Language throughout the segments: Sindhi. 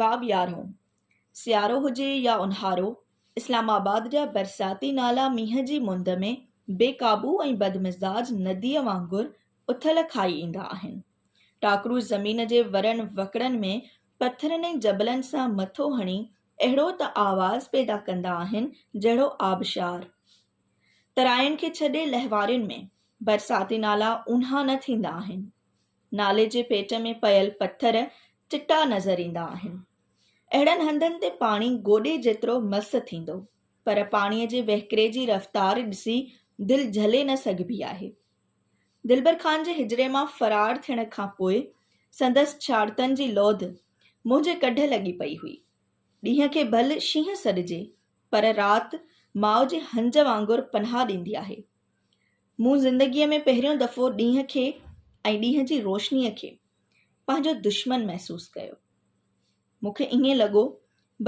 باب يارهون، سيارو هجي يا اونهارو، اسلام آباد جا برساتي نالا مينهن جي مند ۾ بي قابو ۽ بدمزاج نديء وانگر اٿل کائي ايندا آهن. ٽاڪرو زمين جي ورن وڪڙن ۾ پٿرن ۽ جبلن سان مٿو هڻي اهڙو ته آواز پيدا ڪندا آهن جهڙو آبشار. تراين کي ڇڏي لهوارين ۾ برساتي نالا اونها نه ٿيندا آهن. نالي جي پيٽ ۾ پيل پٿر چٽا نظر ايندا آهن. اهڙن هنڌن تي پاڻي گوڏي جيترو مس ٿيندو، پر پاڻيء جي وهڪري جي رفتار ڏسي دل جهلي نه سگهبي آهي. دلبر خان جي حجري مان فرار ٿيڻ کان پوء سندس ڇاڙتن جي لوڌ منهنجي ڪڍ لڳي پئي هئي. ڏينهن کي ڀل شينهن سڏجي، پر رات ماء جي هنج وانگر پناهه ڏيندي آهي. مون زندگيء ۾ پهريون دفعو ڏينهن کي ۽ ڏينهن جي روشنيء کي پنهنجو دشمن محسوس ڪيو. مون کي ائين لڳو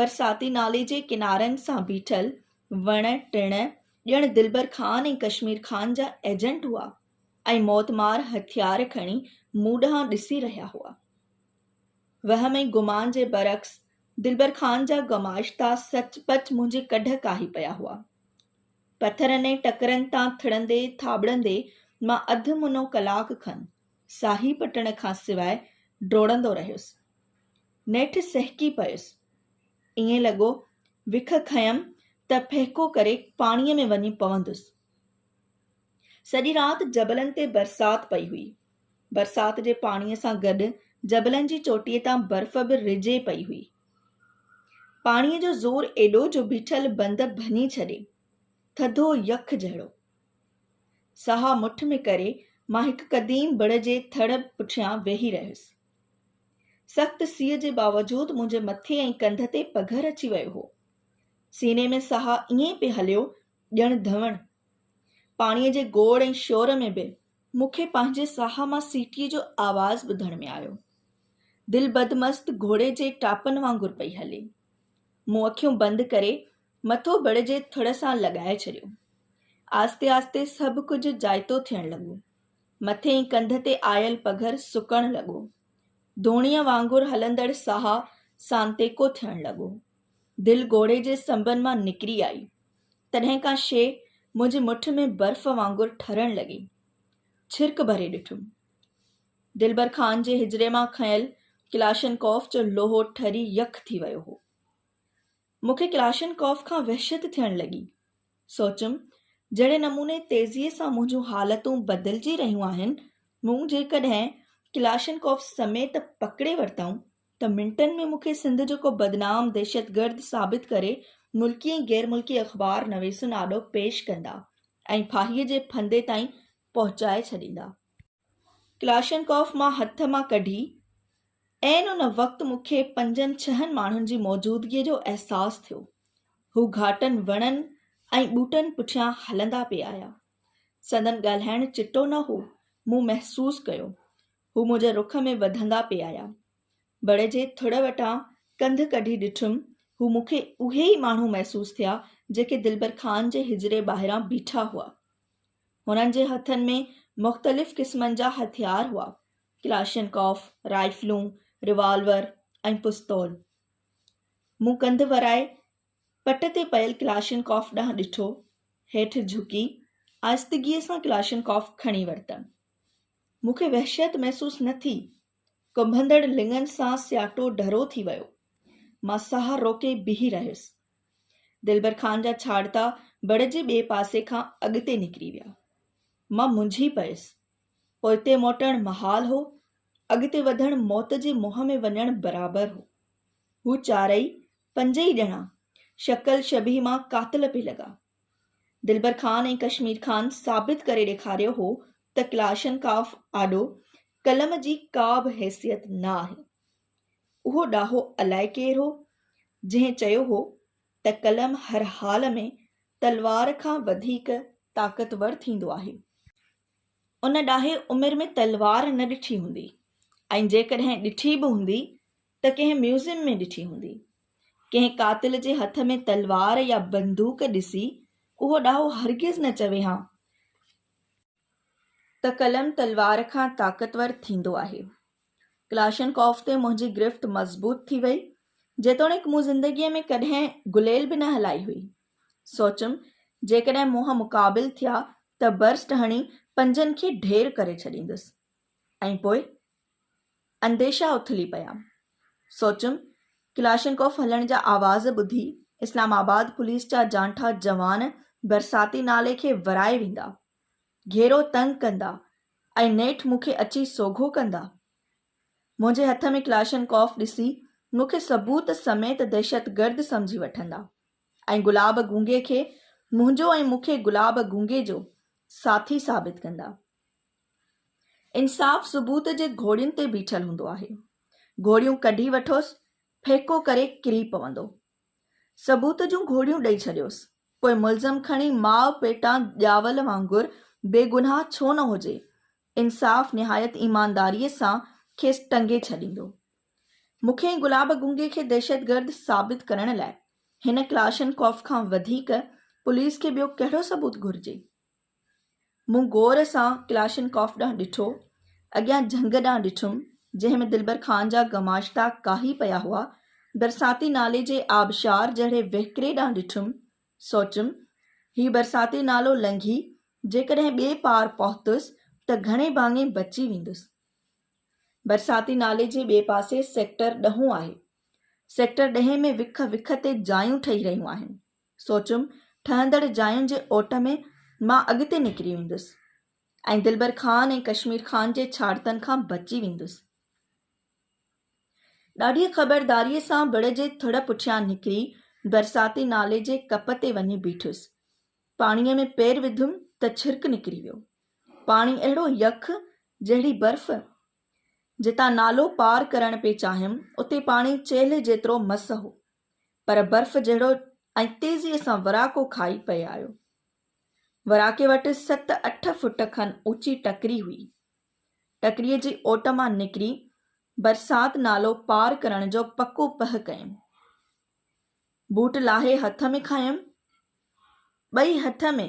برساتي نالي جي ڪنارن سان بيٺل وڻ ٽڻ ڄڻ دلبر خان ۽ ڪشمير خان جا ايجنٽ هئا ۽ موتمار هٿيار کڻي مون ڏانهن ڏسي رهيا هئا. وهم ۽ گمان جي برعڪس دلبر خان جا گماشتا سچ پچ منهنجي ڪڍ ڪاهي پيا هئا. پٿرن ۽ ٽڪرن تان ٿڙندي ٿاٻڙندي مان اڌ منو ڪلاڪ کن ساهي پٽڻ کان سواء ڊوڙندو رهيس. نيٺ سهڪي پيس. ائين لڳو وک کنيم ته ڦهڪو ڪري پاڻيء ۾ وڃي پوندس. سڄي رات جبلن تي برسات پئي هئي. برسات جي پاڻيء سان گڏ جبلن جي چوٽيء تان برف به رجي پئي هئي. پاڻيء جو زور ايڏو جو بيٺل بند ڀڃي ڇڏي، ٿڌو يخ جهڙو. ساهه مٺ ۾ ڪري مان هڪ قديم بڙ جي ٿڙ پٺيان ويهي رهيس. سخت سيء جي باوجود منهنجي مٿي ۽ ڪنڌ تي پگهر اچي ويو هو. سيني ۾ ساهه ائين پئي هليو ڄڻ ڌوڻ. پاڻيء جي گوڙ ۽ شور ۾ به مون کي پنهنجي ساهه مان سيٽيء جو آواز ٻڌڻ ۾ آيو. دل بدمست گهوڙي جي ٽاپن وانگر پئي هلي. مون اکيون بند ڪري مٿو بڙ جي ٿڙ سان لڳائي ڇڏيو. آهستي آهستي سڀ ڪجهه جائتو ٿيڻ لڳو. مٿين ڪنڌ تي آيل پگهر سڪڻ لڳو. ڌوڻيء وانگر هلندڙ ساهه سانتيڪو ٿيڻ لڳو. دل گهوڙي جي سنبن مان نڪري آئي. تڏهن ڪا شيء منهنجي مٺ ۾ برف وانگر ٺرڻ لڳي. ڇرڪ ڀري ڏٺم. دلبر خان جي حجري مان کنيل ڪلاشن ڪوف جو لوهو ٺري يخ ٿي ويو هو. مون کي ڪلاشن ڪوف کان وحشت ٿيڻ لڳي. سوچيم، جهڙي نموني تيزيء سان منهنجون حالتون بدلجي رهيون آهن، مون جيڪڏهن ڪلاشن ڪوف سميت پڪڙي ورتائون، ته منٽن ۾ مون کي سنڌ جو ڪو بدنام دهشتگرد ثابت ڪري ملڪي ۽ غير ملڪي اخبار نويسن آڏو پيش ڪندا ۽ ڦاهيء جي ڦندي تائين پهچائي ڇڏيندا. ڪلاشنڪوف مان هٿ مان ڪڍي، عين ان وقت مون کي پنجن ڇهن ماڻهن جي موجودگيء جو احساس ٿيو. هو گهاٽن وڻن ۽ ٻوٽن پٺيان هلندا پئي آيا. سندن ڳالهائڻ چٽو نه هو، مون محسوس ڪيو. هو منهنجي رخ ۾ وڌندا پئي آيا. بڙ جي ٿڙ وٽان ڪنڌ ڪڍي ڏٺم، هو مون کي اهي ئي ماڻهو محسوس ٿيا، جيڪي دلبر خان جي حجري ٻاهران بيٺا هئا. هنن جي هٿن ۾ مختلف قسمن جا هٿيار هئا، ڪلاشنڪوف، رائفلون، روالور ۽ پستول. مون ڪنڌ ورائي پٽ تي پيل ڪلاشنڪوف ڏانهن ڏٺو، هيٺ جهڪي آهستگيء سان ڪلاشنڪوف کڻي ورتم. مون کي وحشت محسوس نه ٿي، ڪنڀندڙ لڱن سان سياٽو ڍرو ٿي ويو. مان ساهه روڪي بيهي رهيس. دلبر خان جا ڇاڙتا بڙ جي ٻئي پاسي کان اڳتي نڪري ويا. مان منجهي پيس. پوئتي موٽڻ محال هو. اڳتي وڌڻ موت جي منهن ۾ وڃڻ برابر هو. هو چارئي، پنج ئي ڄڻا، شڪل شبيهه مان قاتل پئي لڳا. دلبر خان ۽ ڪشمير خان ثابت ڪري ڏيکاريو هو ته ڪلاشنڪاف آڏو قلم جي ڪا به حيثيت نه آهي. اهو ڏاهو الائي ڪير هو، جنهن چيو هو ته قلم هر حال ۾ تلوار کان وڌيڪ طاقتور ٿيندو آهي. ان ڏاهي عمر ۾ تلوار نه ڏٺي هوندي ۽ جيڪڏهن ڏٺي به هوندي ته ڪنهن ميوزيم ۾ ڏٺي هوندي. ڪنهن قاتل جي هٿ ۾ تلوار يا بندوق ڏسي اهو ڏاهو هرگز نه چوي ها ته قلم تلوار کان طاقتور ٿيندو آهي. ڪلاشنڪوف تي منهنجي گرفت مضبوط ٿي وئي، جيتوڻيڪ مون زندگيء ۾ ڪڏهن گليل به نه هلائي هئي. سوچيم، جيڪڏهن منهن مقابل ٿيا ته برسٽ هڻي پنجن کي ڍير ڪري ڇڏيندس. ۽ پوء؟ انديشا اٿلي پيا. سوچيم ڪلاشنڪوف هلڻ جا آواز ٻڌي اسلام آباد پوليس جا جانٺا جوان برساتي نالي کي ورائي ويندا، گهيرو تنگ ڪندا ۽ نيٺ مون کي اچي سوگهو ڪندا. منهنجي هٿ ۾ ڪلاشنڪوف ڏسي مون کي ثبوت سميت دهشتگرد سمجهي وٺندا ۽ گلاب گونگي کي منهنجو ۽ مون کي گلاب گونگي جو ساٿي ثابت ڪندا. انصاف ثبوت جي گهوڙين تي بيٺل هوندو آهي. گهوڙيون ڪڍي وٺوس، ڦيڪو ڪري ڪري پوندو. ثبوت جون گهوڙيون ڏئي ڇڏيوس. پوء ملزم کڻي ماء پيٽان ڄاول وانگر بيگناهه ڇو نه هجي، انصاف نهايت ايمانداريء سان کيس ٽنگي ڇڏيندو. مون کي ۽ گلاب گنگي کي دهشتگرد ثابت ڪرڻ لاء هن ڪلاشنڪوف کان وڌيڪ پوليس کي ٻيو ڪهڙو ثبوت گهرجي؟ مون غور سان ڪلاشنڪوف ڏانهن ڏٺو. اڳيان جهنگ ڏانهن ڏٺم، جنهن ۾ دلبر خان جا گماشتا ڪاهي پيا هئا. برساتي نالي جي آبشار جهڙي وهڪري ڏانهن ڏٺم. سوچيم، هي برساتي نالو لنگهي جيڪڏهن ٻئي پار پهتس ته گهڻي ڀاڱي بچي ويندس. برساتي نالي جي ٻئي پاسي سيڪٽر ڏهون آهي. سيڪٽر ڏهين ۾ وک وک تي جايون ٺهي رهيون آهن. سوچيم ٺهندڙ جاين جي اوٽ ۾ مان اڳتي نڪري ويندس ۽ دلبر خان ۽ ڪشمير خان جي ڇاڙتن کان بچي ويندس. ڏاڍيء خبرداريء سان بڙ جي ٿڙ پٺيان نڪري برساتي نالي جي ڪپ تي وڃي بيٺس. پاڻيء ۾ پير وڌم ته ڇرڪ نڪري ويو. پاڻي اهڙو يخ جهڙي برف. جتان نالو پار ڪرڻ پئي چاهيم اتي پاڻي چيلهه جيترو مس هو. پر برف جهڙو ۽ تيزيء سان وراڪو کائي پئي آيو. وراڪي وٽ ست اٺ فوٽ کن اوچي ٽڪري هئي. ٽڪريء جي اوٽ مان نڪري برسات نالو پار ڪرڻ جو پڪو پهه ڪيم. بوٽ لاهي هٿ ۾ کنيم. ٻئي هٿ ۾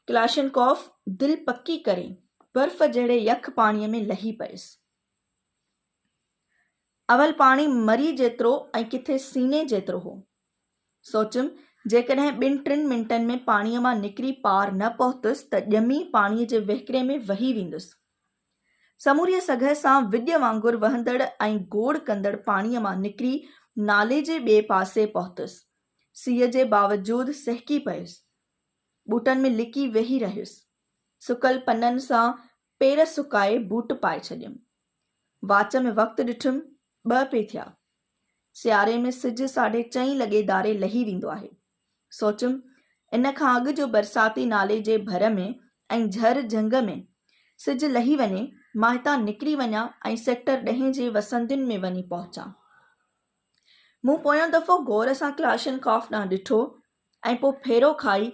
ڪلاشنڪوف دل پڪي ڪري برف جهڙي يخ پاڻيء ۾ لهي پيس. اول پاڻي مري جيترو ۽ ڪٿي سيني جيترو هو. سوچيم جيڪڏهن ٻن ٽن منٽن ۾ پاڻيء مان نڪري پار نه پهتس ته ڄمي پاڻيء جي وهڪري ۾ وهي ويندس. سموريء سگهه سان وڄ وانگر وهندڙ ۽ گوڙ ڪندڙ پاڻيء مان نڪري نالي جي ٻئي پاسي پهتس. سيء جي باوجود سهڪي پيس. ٻوٽن ۾ لڪي ويهي رهيس. سڪل پنن سان پير سڪائي بوٽ پائي ڇڏيم. واچ ۾ وقت ڏٺم، ٻه پي ٿيا. سياري ۾ سج ساڍي چئين لڳي ڌاري لهي ويندو آهي. سوچيم، ان کان اڳ جو برساتي نالي جي ڀر ۾ ۽ جهر جهنگ ۾ سج لهي وڃي، مان هتان نڪري وڃان ۽ سيڪٽر ڏهين جي وسندين ۾ وڃي پهچان. مون پويون دفعو غور سان ڪلاشنڪوف ڏانهن ڏٺو ۽ پوء ڦيرو کائي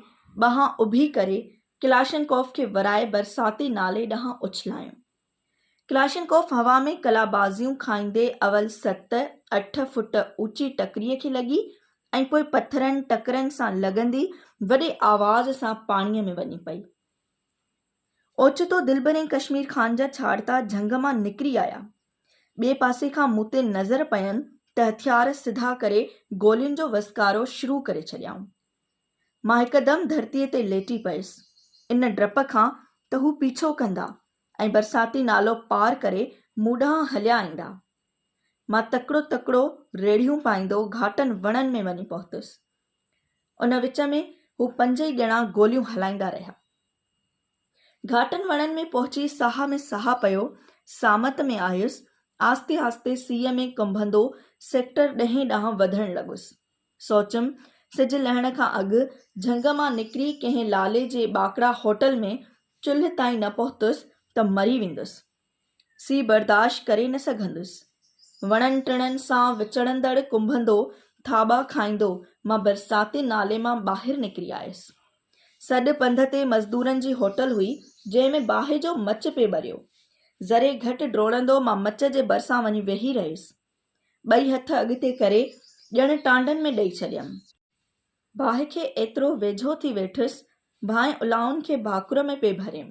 ٻانهن اڀي ڪري ڪلاشنڪوف کي ورائي برساتي نالي ڏانهن اڇلايون. ڪلاشنڪوف هوا ۾ قلابازيون کائيندي اول ست، اٺ فوٽ اوچي ٽڪريء کي لڳي ۽ پوء پٿرن، ٽڪرن سان لڳندي وڏي آواز سان پاڻيء ۾ وڃي پئي. اوچتو دلبرين ڪشمير خان جا ڇاڙتا جهنگ مان نڪري آيا. ٻئي پاسي کان مون تي نظر پين ته هٿيار سڌا ڪري گولين جو وسڪارو شروع ڪري ڇڏيائون. مان هڪدم ڌرتيء تي ليٽي پيس، ان ڊپ کان ته هو پيڇو ڪندا ۽ برساتي نالو پار ڪري مون ڏانهن هليا ايندا. مان تڪڙو تڪڙو ريڙهيون پائيندو گهاٽن وڻن ۾ وڃي پهتس. ان وچ ۾ هو پنج ئي ڄڻا گوليون هلائيندا رهيا. گهاٽن وڻن ۾ پهچي ساهه ۾ ساهه پيو، سامت ۾ آيس، آهستي آهستي سيء ۾ ڪنڀندو سيڪٽر ڏهين ڏانهن وڌڻ لڳس. سوچيم سج لهڻ کان اڳ جهنگ مان نڪري ڪنهن لالي جي ٻاڪڙا هوٽل ۾ چلهه تائين نه پهتس ته مري ويندس. سي برداشت ڪري نه سگهندس. وڻن ٽڻن سان وچڙندڙ ڪنڀندو ٿاٻا کائيندو مان برساتي نالي مان ٻاهر نڪري آيس. سڏ پنڌ تي مزدورن جي هوٽل هئي جنهن ۾ باهه جو مچ پئي ٻريو. ذري گهٽ ڊوڙندو مان مچ جي ڀرسان وڃي ويهي رهيس. ٻئي هٿ اڳتي ڪري ڄڻ ٽانڊن ۾ ڏئي ڇڏيم. باهه کي ايترو ويجهو ٿي ويٺس، ڀانء الائن کي ڀاڪر ۾ پئي ڀريم.